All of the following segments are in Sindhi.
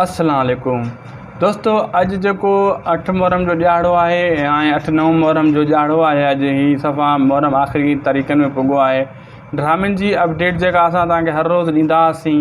السلام عليڪم دوستو اڄ جيڪو اٺ محرم جو ڏهاڙو آهي ۽ اٺ نو محرم جو ڏهاڙو آهي اڄ هي صفا محرم آخري تاريخن ۾ پڳو آهي ڊرامن جي اپڊيٽ جيڪا اسان تهانکي هر روز ڏيندا هئاسين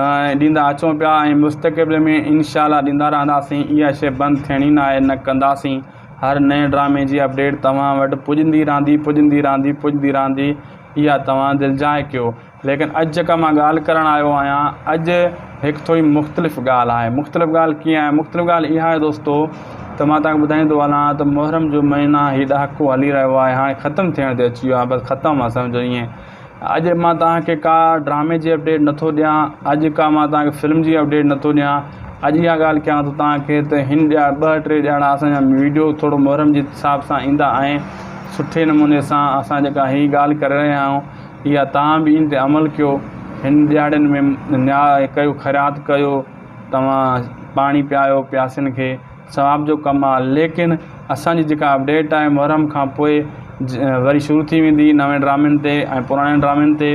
۽ ڏيندا اچون پيا ۽ مستقبل ۾ انشاء الله ڏيندا رهنداسين اها شي بند ٿيڻي نه آهي نه ڪنداسين هر نئين ڊرامي جي اپڊيٽ توهان وٽ پڄندي رهندي پڄندي رهندي پڄندي رهندي اها توهان دلجاء ڪيو ليڪن اڄ جيڪا مان ڳالهه ڪرڻ آيو آهيان اڄ هڪ ٿوري مختلف ڳالهه آهي مختلف ڳالهه ڪيئن آهي مختلف ڳالهه اها آهي دوستو ته مان تهان کي ٻڌائيندو هلان ته محرم جو مهينا هي ڏهاڪو هلي رهيو آهي هاڻي ختم ٿيڻ تي اچي ويو آهي بس ختم آهي سمجهو ائين اڄ مان تهان کي ڪا ڊرامي جي اپڊيٽ نٿو ڏيان اڄ ڪا مان تهان کي فلم جي اپڊيٽ نٿو ڏيان اڄ اها ڳالهه ڪيان ٿو تهان کي ته هن ڏيا ٻه ٽي ڄڻا اسان جا ويڊيو ٿورو محرم جي حساب سان ايندا آهن سٺي نموني سان اسان جيڪا هي ڳالهه ڪري رهيا آهيون يا توهان به ان تي عمل ڪيو، هن ڏيهاڙين ۾ نياء ڪيو، خيرات ڪيو، توهان پاڻي پيايو پياسين کي، ثواب جو ڪم آهي، ليڪن اسان جي جيڪا اپڊيٽ آهي محرم کان پوء وري شروع ٿي ويندي نوين ڊرامين تي ۽ پراڻين ڊرامين تي،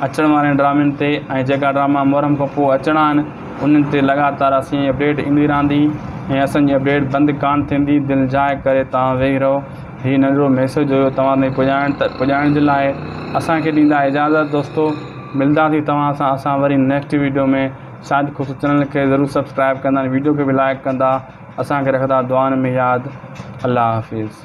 اچڻ وارين ڊرامين تي ۽ جيڪا ڊراما محرم کان پوء اچڻا آهن انهن تي لڳاتار اسان جي اپڊيٽ ايندي رهندي ۽ اسان جي اپڊيٽ بند ڪانه ٿيندي، دل جاء ڪري توهان ويهي رهو هي ننڍڙو ميسيج هيو توهان تائين پڄائڻ ته پڄائڻ جي لاء اسان کي ڏيندا اجازت دوستو ملداسين توهان سان اسان وري نيڪسٽ ويڊيو ۾ شايد خوش چينل کي ضرور سبسڪرائب ڪندا ۽ ويڊيو کي به لائڪ ڪندا اسان کي رکندا دعائن ۾ ياد الله حافظ.